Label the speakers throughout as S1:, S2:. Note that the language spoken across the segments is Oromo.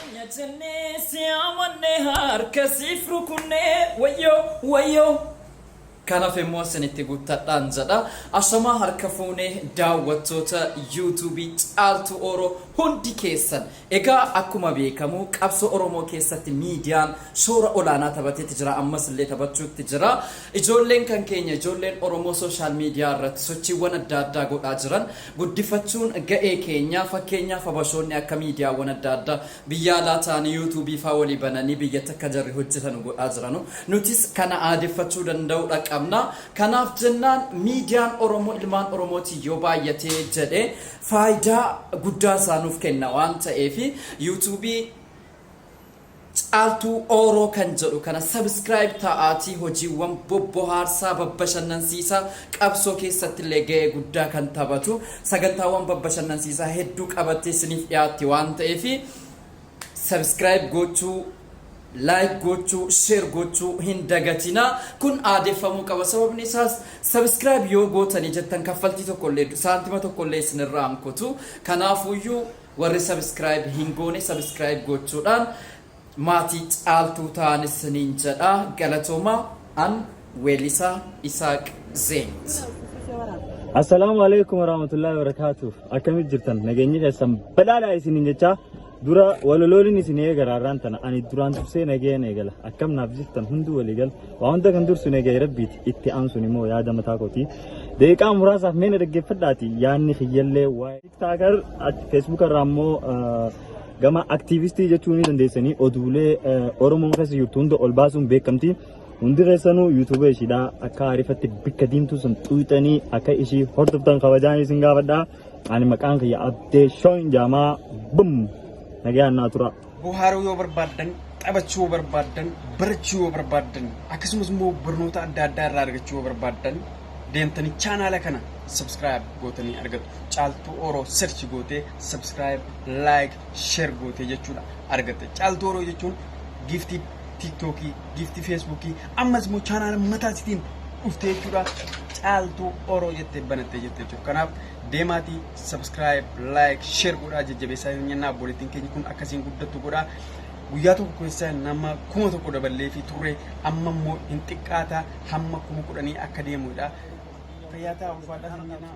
S1: Keenya jennee si amanne harka siif rukunne wayyoo wayyoo kanaaf immoo isinitti guuttadhaan jedha asomaa harka fuunee daawwattoota yuutuubii caaltuu ooroo hundi keessan Egaa akkuma beekamu qabsoo Oromoo keessatti miidiyaan shoora olaanaa tabateeti jira ammas illee tabachuutti jira. Ijoolleen kan keenya ijoolleen Oromoo social media irratti sochiiwwan adda addaa godhaa jiran guddifachuun ga'ee keenya. Fakkeenyaaf Habashoonni akka miidiyaawwan adda addaa biyya alaa ta'anii YouTube faa walii bananii biyyatti akka jarri hojjetanu godhaa jiranu nutis kana aadeffachuu danda'uudha qabna. Kanaaf jennaan miidiyaan Oromoo ilmaan Oromootiin yoo baay'atee jedhe Faayidaa guddaa isaa nuuf kenna waan ta'eef yuutuubii Caaltuu Ooroo kan jedhu kana subscribe ta'aatii hojiiwwan bobbohaarsaa, babbashannansiisaa, qabsoo keessatti illee ga'ee guddaa kan taphatu sagantaawwan babbashannansiisaa hedduu qabattee isiniif dhiyaatti waan ta'eef subscribe gochuu Like gochuu share gochuu hin dagatina kun aadeffamuu qaba sababni isaas subscribe yoo gootanii jettan kaffaltii tokko illee saantima tokko illee isin irraa hin kutu kanaafuu iyyuu warri subscribe hin goone subscribe gochuudhaan maatii caaltuu ta'an isiniin jedha galatooma an weellisaa Isaaq Zeent.
S2: Assalaamu alaikum warahmatullahi wabarakatuh. Akkamit jirtan? Nageenyi keessan badhaadhaa isiniin jechaa Dura walalooliin isin eegala har'aan tana ani duraan dursee nagayaan eegala akkam naaf jirtan hunduu walii gala waa hunda kan dursu nagaya rabbiiti itti aansuun immoo yaada mataa kooti deeqaa muraasaaf meena dhaggeeffadhaati yaadni kiyyallee waa'ee tiktaakar feesbuuka irraa immoo gama aktiivistii jechuu ni dandeessanii oduulee oromoon keessa jirtu hunda ol baasuun beekamti hundi keessanuu yuutuuba ishiidhaa akka aarifatti bikka diimtuu sun xuuxanii akka ishii hordoftan kabajaan isin gaafadhaa. Ani maqaan kiyya Abdee Shooyin Jaamaa Bum nagayaan naa tura. Bohaaruu yoo
S3: barbaaddan, taphachuu yoo barbaaddan, barachuu yoo barbaaddan, akkasumas immoo barnoota adda addaa irraa argachuu yoo barbaaddan deemtanii chaanaala kana subscribe gootanii argatu. Caaltuu Oro search gootee subscribe, like, share gootee jechuudha argatta. Caaltuu Oro jechuun giiftii tiiktookii giiftii feesbuukii ammas immoo chaanaala mataa isitiin dhuftee jechuudha caaltuu oroo jettee banattee jirti jechuudha kanaaf deemaatii subscribe like share godhaa jajjabeessaa hin jennaa obboleettiin keenya kun akkasiin guddattu godhaa guyyaa tokko keessa nama kuma tokko daballee fi turre amma immoo hin xiqqaata hamma kuma kudhanii akka deemudha fayyaa ta'aa ulfaadhaa hin jennaa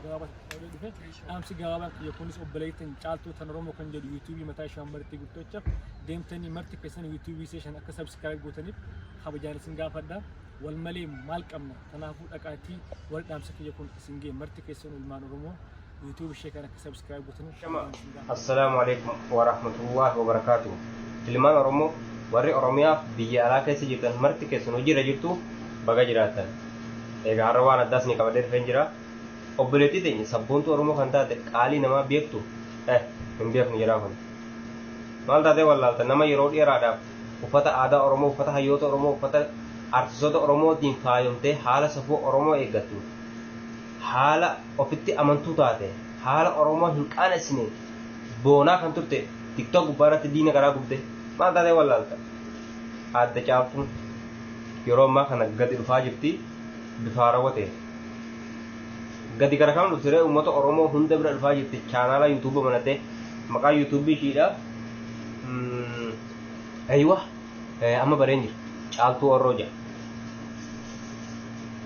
S4: Dhaamsi gabaabaan kiyya kunis obboleettiin caaltuu tan Oromoo kan jedhu yuutuubii mataa ishee hammartii guddacha deemtanii marti keessan yuutuubii ishee shan akka sabskiraayib gootaniif kabajaan isin gaafadha. Wal malee maal qabna? Kanaafuu dhaqaatii wal dhaamsa kiyya kun isin ga'e marti keessan ilmaan Oromoo yuutuubii ishee kan akka sabskiraayib gootaniif Shama. kabajaan isin gaafadha. Assalaamu alaikum
S5: wa rahmatullahi wa barakaatu. Ilmaan Oromoo warri Oromiyaa biyya alaa keessa jirtan marti keessan hojiirra jirtu baga jiraattan. Egaa har'a waan addaas ni qabadhee dhufeen jira. Obboleettii teenya sabboontuu Oromoo kan taate qaalii namaa beektu? Eh! Hin beeknu jedhaa kun. Maal taatee wallaalta nama yeroo dheeraadhaaf uffata aadaa Oromoo, uffata hayyoota Oromoo, uffata artistoota Oromootiin faayomtee haala safuu Oromoo eeggattu, haala ofitti amantuu taate, haala Oromoo hin qaanessineen boonaa kan turte TikTok gubbaa irratti diina garaa gubde maal taatee wallaalta? Aadde Caaltuun yeroo ammaa kana gadi dhufaa jirti bifa haarawwa ta'een. gadi gara kana dhufte ree uummata oromoo hunda bira dhufaa jirti chaanaala yuutuuba banate maqaa yuutuubii ishiidha aywa amma bareen jira caaltuu orroo jira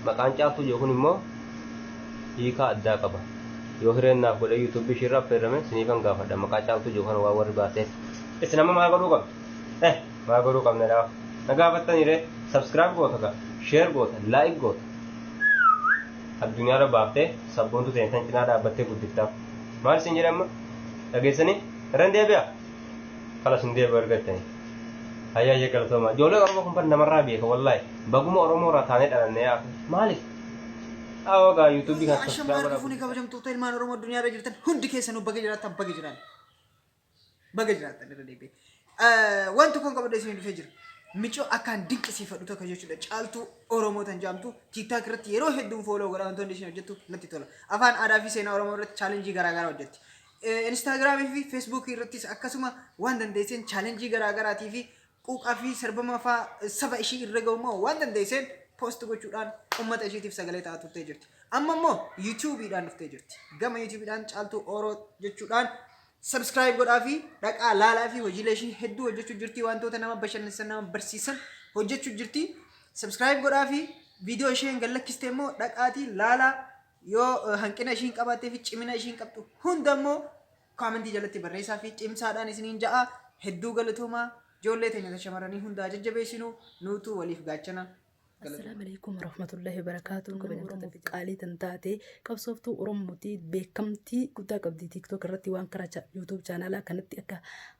S5: maqaan caaltuu jiru kun immoo hiikaa addaa qaba yoo hireen naaf godhe yuutuubii ishiirraa fayyadame siniifan gaafadha maqaa caaltuu jiru kana waa warri baateef isin amma maal godhuu qabdu eh Maa godhuu qabna dhaa? Na gaafattani ree? Subscribe goota gaa, share goota, like goota. Addunyaarra baaftee sabboontuu teenya tan cinaa dhaabbattee guddiftaaf. Maal isin jedhe amma? Dhageessanii? Irra hin deebi'a? Kalas hin deebi'u erga jettanii. Hayyaa hayya galatoomaa. Ijoolleen Oromoo kun bar namarraa beeka wallaahi. Baguma Oromoo irraa taanee dhalanne yaa akhi. Maaliif? Awoo gaa YouTube kan Ashamaa subscribe godhaa. dhufuun kabajamtoota
S3: ilmaan Oromoo addunyaa irra jirtan hundi keessanuu baga jiraattan baga jiraan. Baga jiraattan irra deebi'e. Waan tokkoon qabadhee isin dhufee jira. Micoo akkaan dinqisiifadhu tokko jechuudha. Caaltuu Oromoo tan jaamtu tiiktaak irratti yeroo hedduun fooloo godha wantoonni isin hojjettu natti tola. Afaan aadaa fi seenaa Oromoo irratti chaalenjii garaagaraa hojjetti. Instaagiraamii fi feesbuukii irrattis akkasuma waan dandeesseen chaalenjii garaagaraatii fi quuqaa fi sarbama faa saba ishii irra gahu immoo waan dandeesseen post gochuudhaan ummata ishiitiif sagalee ta'aa turtee jirti. Amma immoo YouTube dhaan dhuftee jirti. Gama YouTube dhaan Caaltuu Oro jechuudhaan subscribe godhaa fi dhaqaa laalaa fi hojiilee ishii hedduu hojjechuu jirti wantoota nama bashannansiisan nama barsiisan hojjechuu
S6: jirti. Subscribe godhaa fi viidiyoo isheen gallakkiste immoo dhaqaatii laalaa yoo eh, hanqina ishiin qabaattee fi cimina ishiin qabdu hunda immoo Koomentii jalatti barreessaa fi cimsaadhaan isiniin ja'a. Hedduu galatoomaa. Ijoollee teenya ta shamarranii hundaa jajjabeessinu nuutu waliif gaachana. Assalaamu alaikum
S7: warahmatullahi wabarakatuh. Kabajamtoota fi qaalii tan taate qabsooftuu Oromootii beekamtii guddaa qabdi TikTok irratti waan karaa YouTube chaanaalaa kanatti akka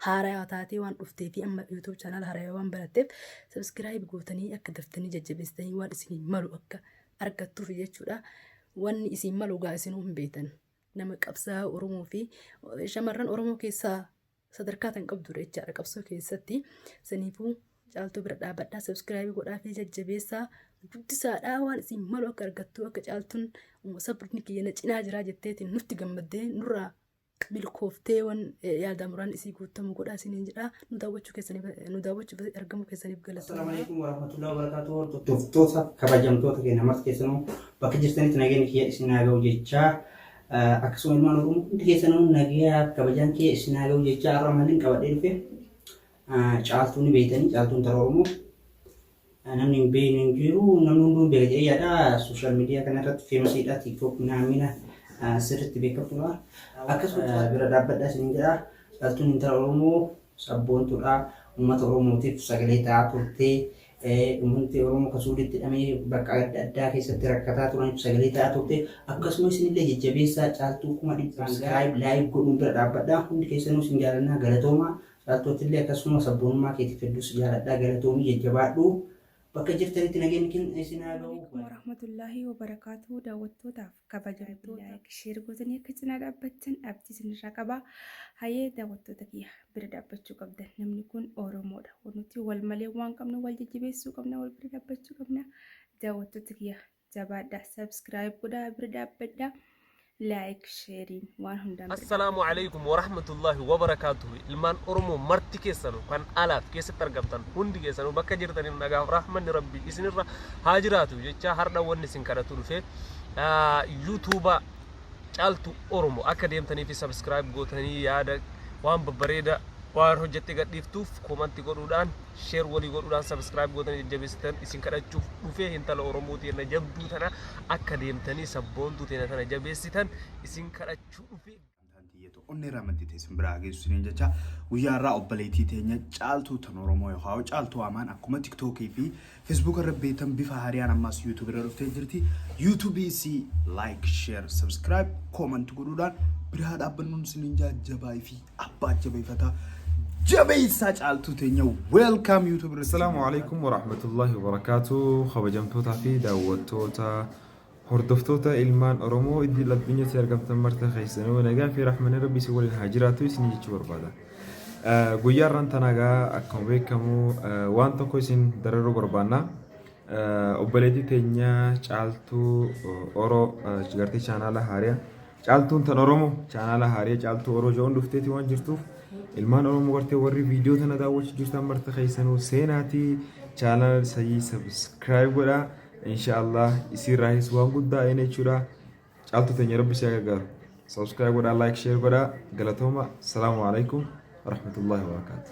S7: haarayaa taatee waan dhuftee fi amma YouTube chaanaala haarayaa waan baratteef subscribe gootanii akka daftanii jajjabeessitanii waan isin malu akka argattuuf jechuudha. Wanni isin malu gaa isinuu hin beektan. nama qabsaa Oromoo fi shamarran Oromoo keessaa sadarkaa tan qabdu jechaadha qabsoo keessatti saniifuu caaltuu bira dhaabadhaa sabskiraabii godhaa fi jajjabeessaa guddisaadhaa waan isin malu akka argattu akka caaltuun sabni kiyya na cinaa jiraa jetteetiin nutti gammaddee nurraa milkooftee waan yaadamuraan isii guuttamu godhaa isiniin jedhaa nu daawwachuu keessaniif nu daawwachuuf argamuu keessaniif galatoomaa. Assalamu alaikum warahmatullahi
S8: wabarakatuh. Hordoftoota kabajamtoota keenya marti keessanuu bakka jirtanitti nageenyi kiyya isin haa ga'u jechaa akkasuma ilmaan Oromoo hundi keessanuu nagayaa kabajaan kiyya isin haa ga'u jechaa har'a maalin qabadhee dhufe caaltuun beeytanii caaltuun tara Oromoo Namni hin beekne hin jiru. Namni hunduu beeka jedhee yaada. Sooshaal miidiyaa kana irratti feemasiidha. Tiiktook naamina sirriitti beekamtuudha. Akkasumas bira dhaabbadha isin jedha. Dhaltuun intala Oromoo sabboontuudha. Uummata Oromootiif sagalee ta'aa turte. Uummanni Oromoo kan suuditti hidhamee bakka adda addaa keessatti rakkataa turaniif sagalee ta'aa turte. Akkasumas isinillee jajjabeessaa caaltuu kuma dhibba sagalii laayik godhuun bira dhaabbadha. Hundi keessanuu isin jaalannaa galatoomaa. Laaltootillee akkasuma sabboonummaa keetiif hedduu si jaaladha galatoomi jajjabaadhu bakka jirtanitti nageenyi kenna isin haa ga'u. Assalamualaikum warahmatullahi
S9: wabarakatuh daawwattootaaf kabajamtoota like share gootanii akka cinaa dhaabbattan abdii isinirraa qaba hayee daawwattoota kiyya bira dhaabbachuu qabdan namni kun oromoodha nuti wal malee waan qabnu wal jajjabeessuu qabna wal bira dhaabbachuu qabna daawwattoota kiyya jabaadha subscribe godhaa bira dhaabbadha like sharing waan hundaan bira Assalaamu
S10: alaikum wa rahmatullahi wa barakaatuhu. Ilmaan Oromoo marti keessanu kan alaaf keessatti argamtan hundi keessanu bakka jirtaniif nagaaf rahmanni rabbii isinirra haa jiraatu jecha hardha wanni isin kadhatu dhufe yuutuuba caaltu Oromoo akka deemtanii fi sabiskiraayib gootanii yaada waan babbareeda waan hojjette gadhiiftuuf koomanti godhuudhaan share walii godhuudhaan subscribe gootanii jajjabeessitan isin kadhachuuf dhufee hintala Oromoo teenna jabduu tana akka deemtanii sabboontuu teenna tana jabeessitan isin kadhachuu dhufee. Amantaan tiyya tokko onnee irraa
S11: madditee isin biraa geessu isiniin jecha guyyaa irraa obboleettii teenya caaltuu tan Oromoo yookaan hoo caaltuu amaan akkuma tiktookii fi feesbuuk irra beektan bifa haariyaan ammaas yuutuubii irra dhuftee jirti yuutuubii isii laayik sheer sabskiraayib koomanti godhuudhaan biraa dhaabbannuun isiniin jaa jabaa fi abbaa jabeeffataa jabeessaa caaltuu teenya weelkaam yuutuub irratti. Assalaamu alaikum
S12: warahmatullahi wabarakaatu kabajamtootaa fi daawwattoota hordoftoota ilmaan Oromoo idil addunyaatti argamtan marta keessanuu nagaa fi rahmanni rabbi isin waliin haa jiraatu isin jechuu barbaada. Eh, Guyyaa irraan tanagaa akkuma beekamu eh, waan tokko isin dararuu barbaanna. Eh, Obboleettii teenya caaltuu eh, Oroo eh, gartee chaanaala haariyaa Caaltuun tan Oromoo chaanaala haaree caaltuu Oro Joon dhufteeti waan jirtuuf ilmaan Oromoo gartee warri viidiyoo tana daawwachuu jirtan marti keessanuu seenaati chaanaala sayii sabiskiraayib godhaa inshaallah isiirraahis waan guddaa eena jechuudha caaltuu teenya rabbi si gargaaru sabiskiraayib godhaa laayik sheer godhaa galatooma salaamu alaikum warahmatullaahi wabarakaatu.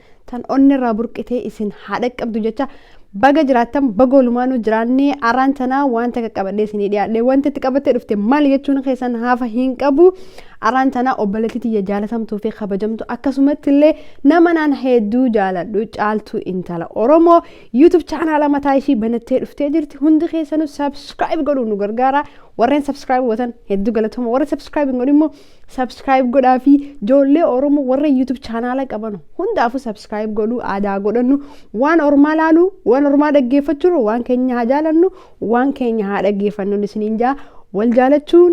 S13: tan onnerraa burqitee isin haa dhaqqabdu jecha baga jiraattan baga olumaanuu jiraannee araan tanaa waan takka qabadhee isinii dhiyaadhe wanti itti qabattee dhufte maal jechuun keessan haafa hin qabu araan tanaa obboleetti tiyya jaalatamtuu fi kabajamtu akkasumatti illee nama naan hedduu jaaladhu caaltuu intala oromoo yuutub chaanaala mataa ishii banattee dhuftee jirti hundi keessanuu sabskiraayib godhuun nu gargaara warreen sabskiraayib gootan hedduu galatoma warri sabskiraayib hin godhin immoo Subscribe godhaa fi joollee Oromoo warra YouTube chaanaala qabanu hundaafuu subscribe godhuu aadaa godhannu waan ormaa laaluu waan ormaa dhaggeeffachuu waan keenya haa jaalannu waan keenya haa dhaggeeffannu isiniin jaa wal jaalachuun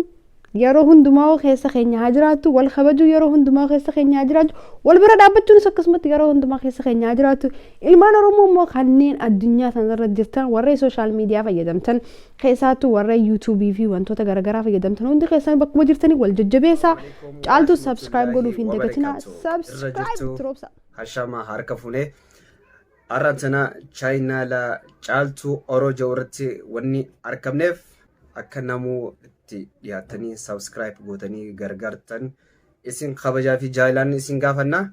S13: yeroo hundumaa keessa keenya haa jiraatu wal kabajuu yeroo hundumaa keessa keenya haa jiraatu wal bira dhaabbachuunis akkasumatti yeroo hundumaa keessa keenya haa jiraatu ilmaan oromoo immoo kanneen addunyaa sanarra jirtan warreen sooshaal miidiyaa fayyadamtan Keessaattu warra YouTube fi wantoota garagaraa fayyadamtan hundi keessan bakkuma jirtanii wal jajjabeessaa. Caaltu subscribe godhuuf hin dagatinaa. Subscribe tiroobsa. Hashama harka
S14: fuune. Har'a tana chaayinaala caaltuu oro ja'u irratti wanni argamneef akka namuu itti dhiyaatanii subscribe gootanii gargaartan isin kabajaa fi jaalaan isin gaafanna.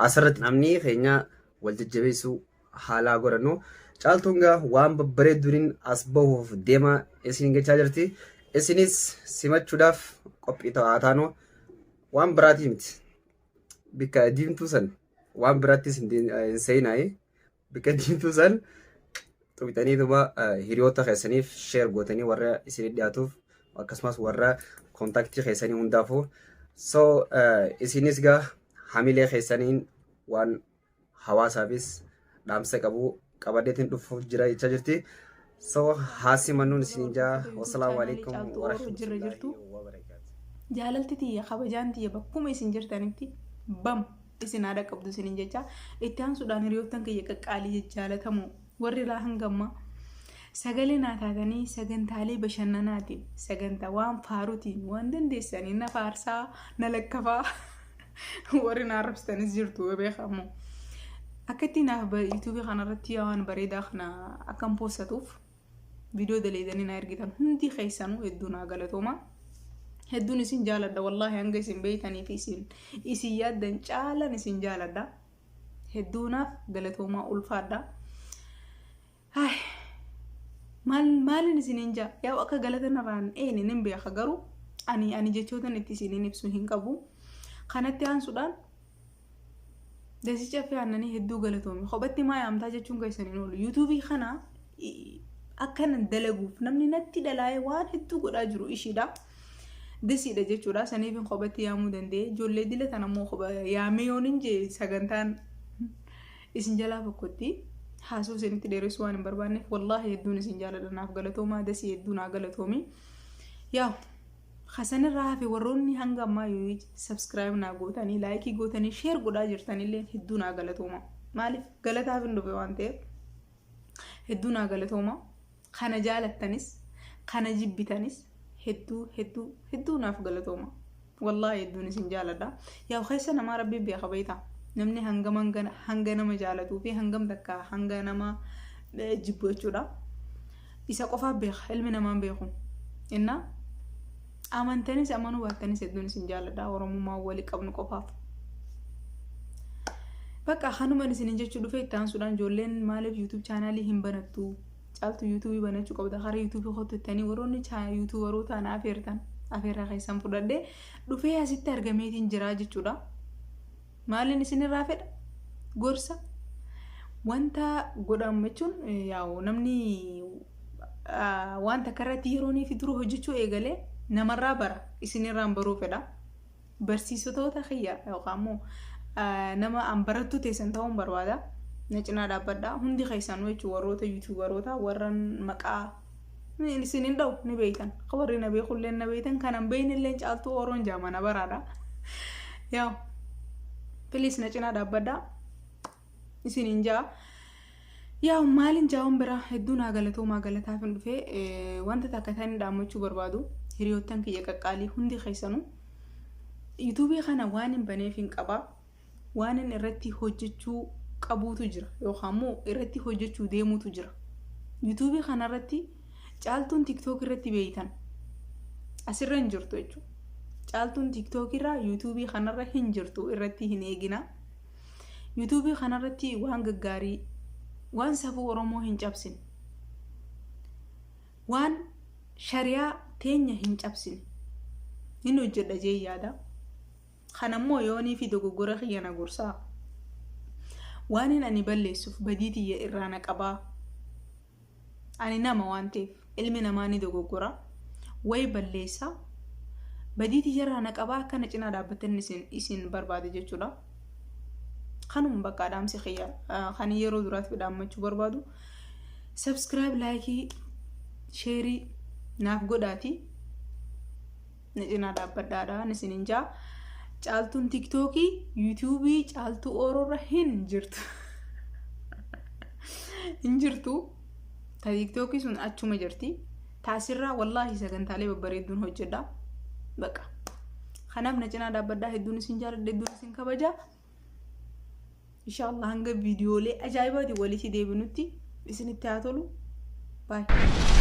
S14: Asirratti namni keenya wal jajjabeessuu haalaa godhannu caaltuun gaa waan babbareedduuniin as bahuuf deemaa isin gachaa jirti isinis simachuudhaaf qophii ta'aa taanu waan biraatii miti bikka diimtuu san waan biraattis hin deen- hin seenaayi bikka diimtuu san tuqxanii duuba hiriyoota keessaniif sheer gootanii warra isin dhiyaatuuf akkasumas warra kontaktii keessanii hundaafuu so isinis gaa hamilee keessaniin waan hawaasaafis dhaamsa qabu qabadeetiin dhufuuf jira jechaa jirti. So haasi mannuun isin jaa wasalaamu alaikum warahmatullahi wabarakatuh. Jaalalti tiyya
S9: kabajaan tiyya bakkuma isin jirtanitti bam isin haadha qabdu isinin jecha itti aansuudhaan hiriyoottan kiyya qaqqaalii jaalatamu warri irraa hangammaa sagalee naa taatanii sagantaalee bashannanaatiin sagantaa waan faarutiin waan dandeessanii na faarsaa na lakkafaa. Warri na arrabsitanis jirtu beekamu. Akka itti naaf ba- yuutuubii kanarratti yaa waan bareedaa kana akkan poostatuuf viidiyoo daleedanii na ergitan hundi keessanuu hedduu naa galatooma. Hedduun isin jaaladha wallaahi hanga isin beeytanii fi isin isin yaaddan caalan isin jaaladha. Hedduu naaf galatoomaa ulfaadha. Hay maal maalin isiniin jaa yaa akka galata narraan eeyne nin beeka garuu ani ani jechootan itti isiniin ibsu hin qabu kanatti aansuudhaan dasii caffee aannanii hedduu galatoomi kophatti maa yaamtaa jechuun keessan hin oolu yuutuubii kana i- akka nan dalaguuf namni natti dalaa'ee waan hedduu godhaa jiru ishiidha dasiidha jechuudha saniif hin kophatti yaamuu danda'e ijoollee dila tan ammoo kopha yaamee yoon hin jee sagantaan Isin jalaa tokkotti haasoo isinitti dheeressuu waan hin barbaanneef wallaahi hedduun isin jaaladha naaf galatoomaa dasii hedduu naa galatoomi. Yaa hasanirraa hafe warroonni hanga ammaa yoo sabskiraayib naa gootanii laayikii gootanii sheer godhaa jirtanillee hedduu naa galatooma. Maaliif galataaf hin dhufe waan ta'eef hedduu naa galatooma. Kana jaalattanis kana jibbitanis hedduu hedduu hedduu naaf galatooma. Wallaahi hedduun isin jaaladha. Yaa keessa namaa rabbiin beeka beekta. Namni hangam hanga, hanga nama jaalatuu fi hangam takka hanga nama eh, jibbu jechuudha. Isa qofaaf beeka ilmi namaan beeku. Innaa amantanis amanuu baattanis hedduun isin jaaladha. Oromummaa walii qabnu qofaaf. Bakka kanuman isinin jechuu dhufe itti aansuudhaan ijoolleen maaliif YouTube chaanaalii hin banattu Caaltu yuutuubii banachuu qabda gara yuutuubii kootti jettanii warroonni yuutuubaroota ana afeertan afeerraa keessan fudhadhee dhufee asitti argameetiin jiraa jechuudha. Maaliin isinirraa fedha? Gorsa. Wanta godhamu jechuun yaa'u namni wanta karratti yeroonii fi dura hojjechuu eegalee namarraa bara isinirraan baruu fedha. Barsiisotoota kiyya yookaan immoo nama an barattuu teessan ta'uun barbaada. Na cinaa dhaabbadhaa. Hundi keessanuu jechuun warroota yuutuubaroota warra maqaa isin hin dha'u ni beektan. Akka warri na beekullee na beektan kan an beekne illee caaltuu oroon jaama na baraadha. Yaa piliis na cinaa dhaabbadhaa. Isin hin ja'a. Yaa'u maalin jaa'uun biraa hedduu naa galatoomaa galataaf hin dhufee wanta takka ta'e inni dhaammachuu barbaadu hiriyoottan kiyya qaqqaalii hundi keessanu yuutuubii kana waan hin baneef hin qabaa waan inni irratti hojjechuu qabuutu jira yookaan immoo irratti hojjechuu deemuutu jira yuutuubii kana irratti caaltuun tiktook irratti beeytan asirra hin jirtu jechuudha caaltuun tiktook irraa yuutuubii kanarra hin jirtu irratti hin eeginaa. Yuutuubii kanarratti waan gaggaarii, waan safuu Oromoo hin cabsine, waan shariyaa teenya hin cabsine hin hojjedha jee yaada. Kan ammoo yoonii fi dogoggora kiyya na gorsaa. Waan hin ani balleessuuf badii tiyya irraa na qabaa. Ani nama waan ta'eef ilmi namaa ni dogoggora, wayi balleessa, badii tiyyarraa na qabaa akka na cinaa dhaabbattan isin isin barbaada jechuudha. Kanuma bakka dhaamsi kiyya kan yeroo duraatiif dhaammachuu barbaadu. Subscribe, laayikii, sheerii naaf godhaati. na cinaa dhaabbadhaadhaan isinin jaa caaltuun tiktookii yuutuubii caaltuu ooroorra hin jirtu hin jirtu ta tiktookii sun achuma jirti taasirraa wallaahi sagantaalee babbareedduun hojjedha baqa kanaaf na cinaa dhaabbadhaa hedduun isin jaaladha hedduun isin kabaja Inshaallah hanga viidiyoolee ajaa'ibaatiin walitti deebinutti isinitti haa tolu. Baay'ee.